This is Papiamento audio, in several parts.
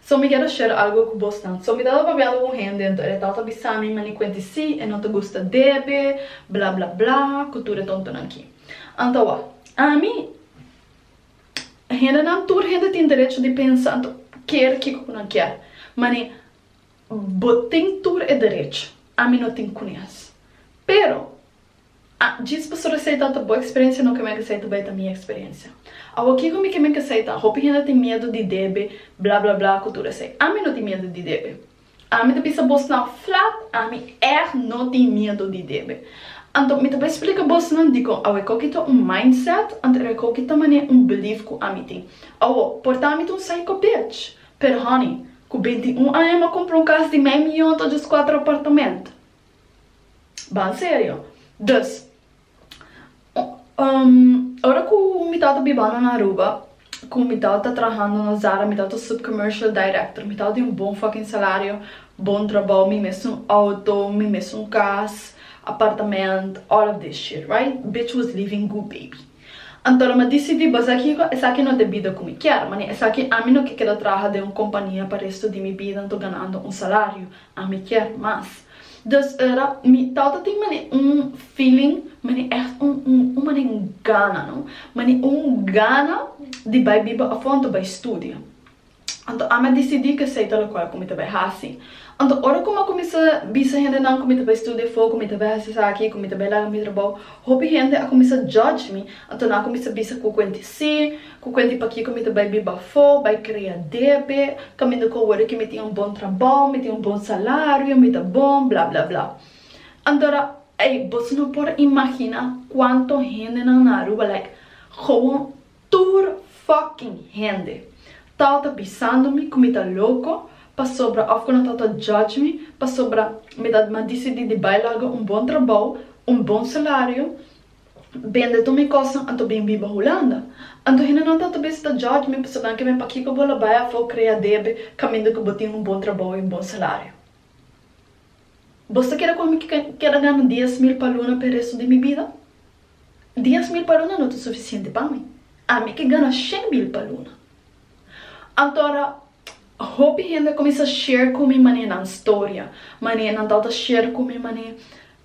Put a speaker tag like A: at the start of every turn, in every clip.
A: So mi keda share algo ku bosnan. So mi tabata pabiando ku un hende entor e tabata bisa mi mane kuenti si e no ta gusta debe bla bla bla ku tur e tontonan ki. Anto awa ami hendenan tur hende tin derecho di pensa anto kier kiko ku nan kier mane bo tin tur e derecho ami no tin kunes pero A, Djis Pastor Aceita ta bo experiencia no Carmen Aceita bay ta mi experiencia Awa kico mi Carmen Aceita hopi hende tin miedo di debe bla bla bla cu tur esey ami no tin miedo di debe ami ta bisa bos nan flat ami echt no tin miedo di debe anto mi ta bay splica bos nan dicon awe coki ta un mindset anto awe coki ta mane un belief cu ami tin awo por ta ami ta un psycho bitch pero honey cu binti un aña mi a compra un cas di mei miyon ta djis cuatro apartament. Ban serio. Dus, ora ku mi tabata bibando na Aruba, ku mi tabata trahando na Zara, mi tabata sub commercial director, mi tabata di un bon fucking salario, bon trabou, mi mes un outo, mi mes un kas, apartament, all of this shit, right? Bitch was living goo baby. Anto lo mi a disidi basa kiko, esaki no ta e bida ku mi kier, mane esaki ami no ke keda traha den un kompania pa resto di mi bida anto ganando un salario, A mi kier mas. Dus ora mi ta oto tin mane un feeling, mane echt un un mane un gana no, mane un gana di bai biba afontu, bai studia. Anto ami a disidi ke esei ta lokual ku mi ta bai hasi. Anto ora ku mi a kuminsá bisa hendenan ku mi ta bai studia afó, ku mi ta bai hasi esaki, ku mi ta bai laga mi trabou, hopi hende a kuminsá judge mi, anto nan a kuminsá bisa ku kuenti sí, Cu cuenta di pakico mi ta bay biba afo, bay crea debe, caminda cu awor aki mi tin un bon trabao, mi tin un bon salario, mi ta bon, bla, bla, bla. Antora, ey, boso no por imagina cuanto hendenan na Aruba, like, gewoon tur fucking hende, tawata bisando mi cu mi ta loco pasobra, of cu nan tawata judge mi pasobra mi ta mas dicidi di bay laga un bon trabao, un bon salario, bende tur mi kosnan anto bin biba Hulanda. Anto hendenan ta ta bisa ta judge mi pasobra ke mi pakiko bo la bai afó krea debe kaminda ku bo tin un bon trabou i un bon salario. Bos ta kere ku ami keda gana dies mil pa luna p'e resto di mi bida? Dies mil pa luna no ta sufisiente pa mi. Ami ke gana shen mil pa luna. Anto ora hopi hende a kuminsá share ku mi manera nan storia, manera nan tabata share ku mi manera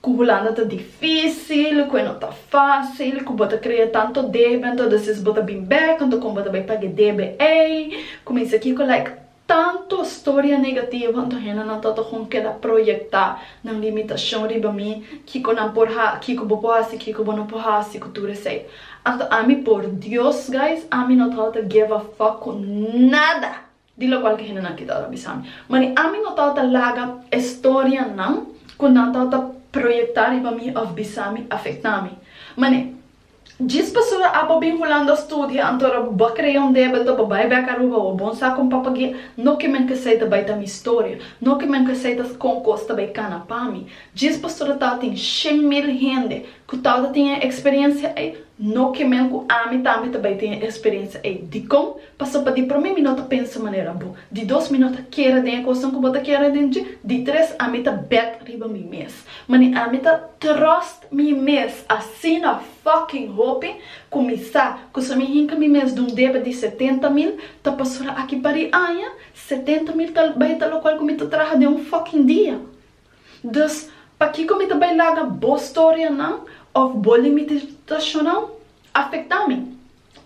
A: Cu Hulanda ta dificil, cu e no ta facil, cu bo ta crea tanto debe, entondes is bo ta bin bek, anto con bo ta bay paga e debe ey, cu mester kico like tanto storia negativo, anto hendenan ta ta con keda proyecta nan limitacion riba mi, kico nan por ha, kico bo por haci, kico bo no por haci, cu tur esey. Anto ami por Dios guys, ami no ta houta give a fuck cu nada! Di locual cu hendenan ki tabata bisa mi. Mani ami no tabata laga e storianan cu nan tabata proyecta riba mi of bisa mi afecta mi. Mani, djis pasobra a bo bin Hulanda studia, anto bo a crea un debito, bo bay bek Aruba, bo bon sa con papagia, no ki men k'esey ta bay ta mi storia, no ki men k'esey ta con cos ta bay cana pa mi. Djis pasobra tabatin shen mil hende cu tabata tin e experiencia ey, no ki men cu ami tambe ta bay tin e experiencia ey. Dicon? Paso pa di prome mi no ta pensa manera bo, di dos mi no ta kere den e kosnan ku bo ta kere den dje, di tres ami ta bèt riba mi mes, ma ni ami ta trust mi mes asina fucking hopi ku mi sa ku si mi hinka mi mes dun debe di setenta mil ta pasura aki pa di aña, setenta mil ta bai ta lokual ku mi ta traha den un fucking dia. Dus pakiko mi ta bai laga bo storianan òf bo limititashonan afektá mi?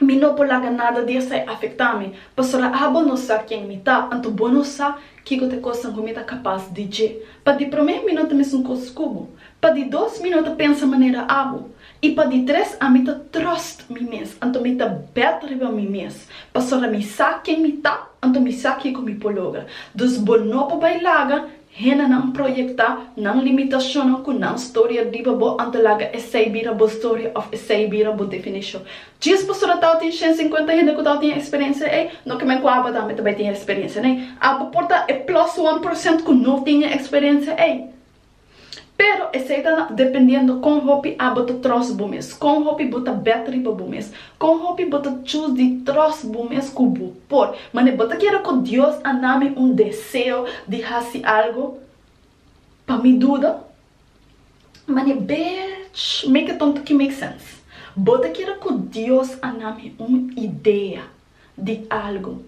A: Mi no por laga nada di esei afectá mi, pasobra abo no sa ken mi ta, anto bo no sa kiko ta e cosnan cu mi ta capaz di dje. Pa di promé mi no ta mesun cos cu bo, pa di dos mi no ta pensa manera abo, i pa di tres ami ta trust mi mes, anto mi ta bet riba mi mes, pasobra mi sa ken mi ta, anto mi sa kiko mi por logra. Dus bo no por bai laga Hendenan proyecta nan limitacionnan cu nan storia riba bo ante laga esey bira bo storia of esey bira bo definition. Djis bo solo tao tin shen cincuenta hende cu tao tin experiencia ey, no ke men cu aba tambe ta bay tin experiencia, nee. Abo por ta e plus one procent cu no tin e experiencia ey. Pero esei ta dependiendo kon hopi abo ta tròst bo mes, kon hopi bo ta bèt riba bo mes, kon hopi bo ta chus di tròst bo mes ku bo por. Mane bo ta kere ku Dios a na mi un deseo di hasi algu pa mi duda? Mane bech make tonto ki make sens. Bo ta kere ku Dios a na mi un idea di algu.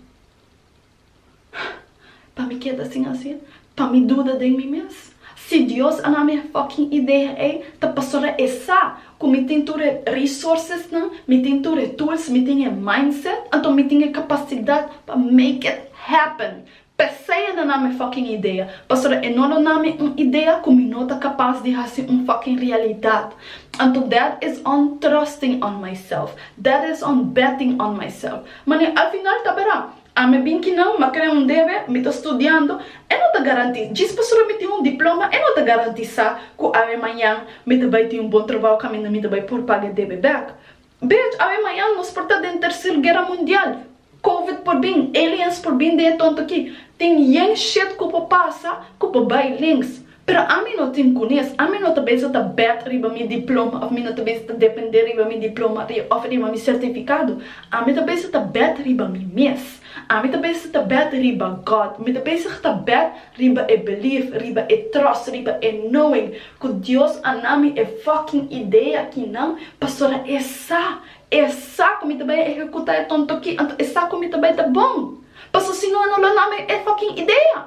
A: Pa mi keda sin hacer, pa mi duda den mi mes. Si Dios a nami e fucking idea ey, ta pasobra e sa cu mi tin tur e resourcesnan, mi tin tur e tools, mi tin e mindset, anto mi tin e capacidad pa make it happen. P'esey e na nami e fucking idea, pasobra e no lo nami un idea cu mi no ta capas di haci un fucking realidad. Anto that is on trusting on myself, that is on betting on myself. Manera, al final ta bera, A mi bin kinan ma kre un debe, mi ta studiando, e no ta garanti, djis pasobra mi tin un diploma e no ta garantisá ku awe mañan mi ta bai tin un bon trabou kaminda mi ta bai por paga e debe bèk. Bej, awe mañan nos por ta den Terser Guera Mundial, Covid por bin, aliens por bin den e tonto akí, tin yen shit ku por pasa ku por bai links. Pero ami no tin kunes, ami no ta bisa ta bèt riba mi diploma òf mi no ta bisa ta dependé riba mi diploma òf riba mi sertifikado. Ami ta bisa ta bèt riba mi mes. Ami ta bisa ta bèt riba God. Mi ta bisa ta bèt riba e belief, riba e trust, riba e knowing ku Dios a na mi e fucking idea akinan pasobra e sa, e sa ku mi ta bai a ehekutá e tonto akí, anto e sa ku mi ta bai ta bon. Pasobra si no a no lo na mi e fucking idea.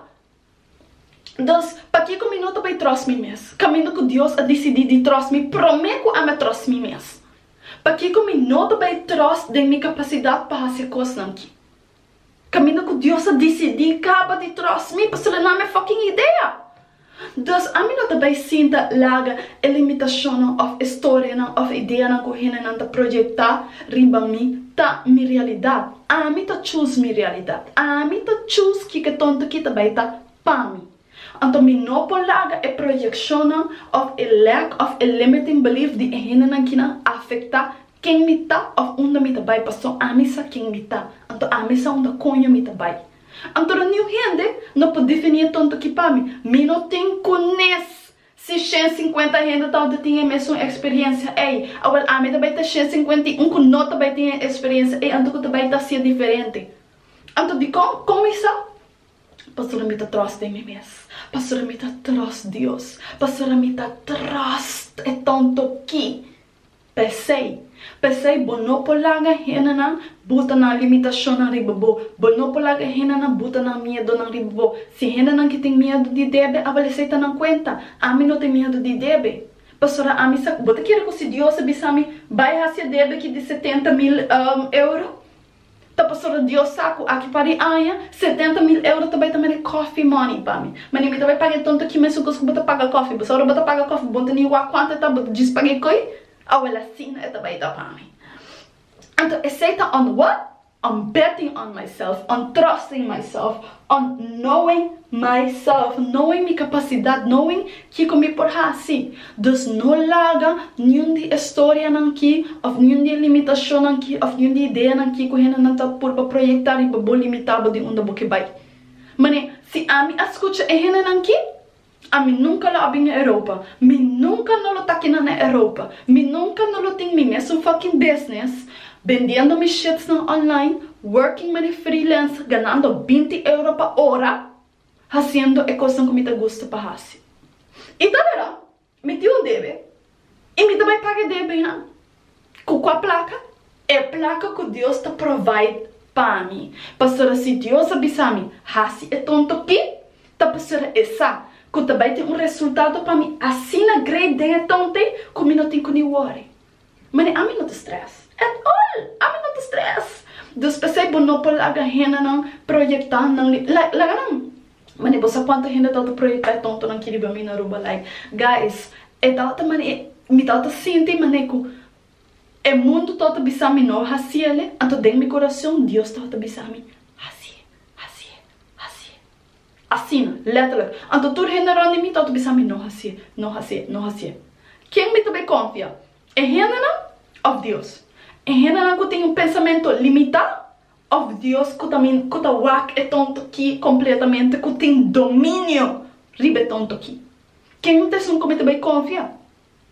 A: Dos, pakico mi no ta bay troz mi mes, caminda cu Dios a dicidi di troz mi prome cu ami a troz mi mes? Pakico mi no ta bay troz den mi capacidad pa haci cosnan ki, caminda cu Dios a dicidi caba di troz mi pasobra nan mi fucking idea? Dos, ami no ta bay sinta laga e limitacionnan of e storianan of ideanan cu hendenan ta projecta riba mi ta mi realidad. Ami ta chus mi realidat. Ami ta chus kiko tonto ki ta bai ta pa mi. Anto mi no por laga e proyeccionnan of e lack of e limiting belief di e hendenan kinan afecta ken mi ta of unda mi ta bai paso ami sa ken mi ta. Anto ami sa unda coño mi ta bai. Anto roniu hende no por defini e tonto ki pa mi. Mi no tin cunes Si shen sinkuenta hende tabata tin e mesun eksperiencia ei, awor ami ta bai ta shen sinkuenta i un ku no ta bai tin e eksperiencia ei, anto ku ta bai ta hasia diferente? Anto dikon? Kon mi sa? Pastor mi ta tròst den mi mes. Pastor mi ta tròst Dios. Pastor mi ta tròst e tonto ki. P'esei, p'esei bo no por laga hendenan buta nan limitashonnan riba bo, bo no por laga hendenan buta nan miedonan riba bo. Si hendenan ke tin miedu di debe, a balesa i ta nan kuenta. Ami no tin miedu di debe, pasobra ami sa. Bo ta kere ku si Dios a bisa mi, Bai hasi e debe aki di setenta mil euro? Ta pasobra Dios sa cu aki pa di aña, setenta mil euro ta bai ta mari coffee money pa mi. Mani, mi ta bai paga e tonto aki mesun cos cu bo ta paga coffee. Bo sa ora bo ta paga coffee, bo ta ni wak cuantu e ta, bo ta djis paga e coi? Awel asina e ta bai ta pa mi. Anto esey ta un what? Un betting on myself, un trust in myself, Ond noen myself, noen mi kapasidat, noen kiko mi por hasi. Dus no laga niun di e storianan ki òf niun di e limitashonnan ki òf niun di ideanan ki ku hendenan ta purba proyektá riba bo limitá bo di unda bo ke bai. Manera si ami a skucha e hendenan ki, Ami nunka lo a bin na Europa. Mi nunka no lo ta kina na Europa. Mi nunka no lo tin mi mes un fucking business, bendiendo mi shitsnan online, working mani freelancer, ganando binti euro pa ora, haciendo e cosnan cu mi ta gusta pa haci. Y ta wera, mi tin un debe. Y mi ta bay paga debe ha. Cu cua placa? E placa cu Dios ta provide pa mi. Pasobra si Dios a bisa mi, haci e tonto pi, ta pasobra e sa cu ta bay tin un resultado pa mi asina great den e tontay cu mi no tin cu ni worry. Mane, ami no ta stress. At all! Ami no ta stress. Dus p'esey bo no por laga hendenan projecta nan li, la, laga nan. Mane bo sa cuanto hende ta ota proyecta e tontonan ki riba mi na Aruba like guys e ta ota mane mi ta ota sinti mane cu e mundo ta ota bisa mi no haciele anto den mi coracion Dios ta ota bisa mi hacie hacie hacie asina letterlijk anto tur hende rond di mi ta ota bisa mi no hacie no hacie no hacie ken mi ta bay confia e hendenan of Dios e hendenan cu tin un pensamento limita Of Dios ku ta min ku ta wak e tonto ki kompletamente ku tin dominio riba e tonto ki? Ken ta esun ku mi ta bai konfia?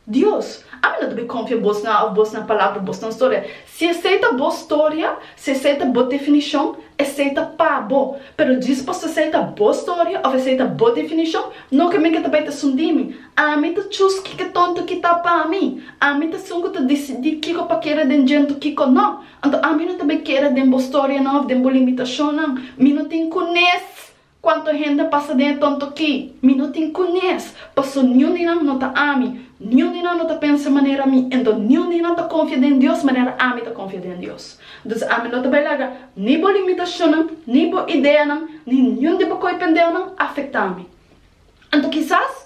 A: Dios, ami no ta bai konfia bosnan of bosnan palabra of bosnan storia. Si esei ta bo storia, si esei ta bo definishon, esei ta pa bo. Pero djisposo esei ta bo storia of esei ta bo definishon, no ke men ke ta bai ta esun di mi. Ami ta chus kiko tonto ki ta pa mi. Ami ta esun ku ta disidi kiko pa keda den djento kiko no. Anto ami no ta be keda den bo storianan of den bo limitacionnan. Mi no tin cunes cuanto hende a pasa den e tonto ki. Mi no tin cunes, paso niun di nan no ta ami. Niun di nan no ta pensa manera mi. Ento niun di nan ta confia den Dios manera ami ta confia den Dios. Dus ami no ta be laga ni bo limitacionnan, ni bo ideanan, ni niun di bo coipendeonan afecta mi. Anto kisas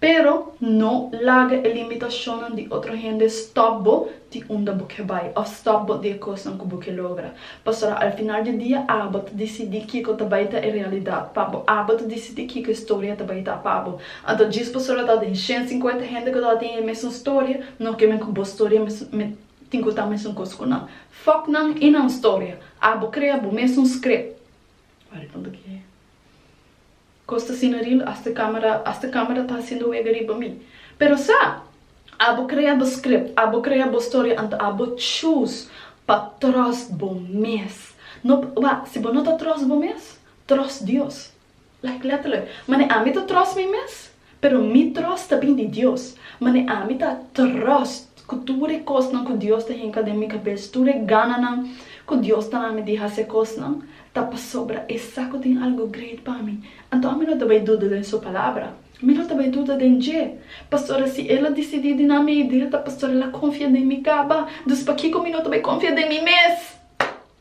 A: Pero no laga e limitashonnan di otro hende stòp bo di unda bo ke bai òf stòp bo di e kosnan ku bo ke logra. Pasobra al final di dia abo ta disidí kiko ta bai ta e realidat pa bo, abo ta disidí kiko e storia ta bai ta pa bo. Anto djis pasobra ta den shen sinkuenta hende ku tabatin e mesun storia, no ke men ku bo storia mesun tin ku ta mesun kos ku nan. Fòk nan i nan storia. Abo krea bo mesun script. Costa asina ril hasta camera hasta camera ta haciendo wega riba mi. Pero sa! Abo crea bo script, abo crea bo storia anto abo choose pa trust bo mes. No pa wak, si bo no ta trust bo mes, trust Dios. Like letterlijk. Mane ami ta trust mi mes? Pero mi tròst ta bin di Dios, mane ami ta tròst ku tur e kosnan ku Dios ta hinka den mi kabes, tur e gananan ku Dios ta na mi di hasi e kosnan, ta pasobra esak ku tin algu greit pa mi. Anto ami no ta bai duda den su palabra, mi no ta bai duda den dje, pasobra si el a disidí di na mi idea ta pasobra el a konfia den mi kaba, dus pakiko mi no ta bai konfia den mi mes?